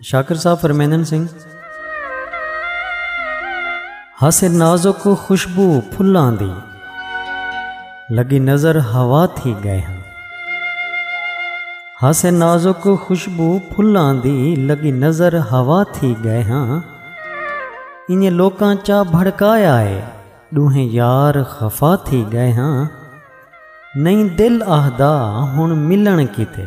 شاکر صاحب فرمیندن سن ہس نازک خوشبو پھلاں دی لگی نظر ہوا تھی گئے ہاں ہس نازک خوشبو پھلاں دی لگی نظر ہوا تھی گئے ہاں انہیں لوکاں چا بھڑکایا ہے ݙوہیں یار خفا تھی ڳئے ہاں نئیں دل آہدا ہݨ ملݨ کیتے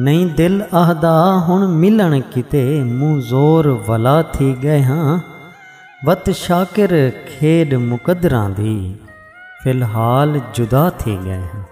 نئیں دل آہدا ہݨ ملݨ کیتے موں زور ولا تھی ڳئے ہاں وت شاکر کھیݙ مقدراں دی فی الحال جدا تھی ڳئے ہاں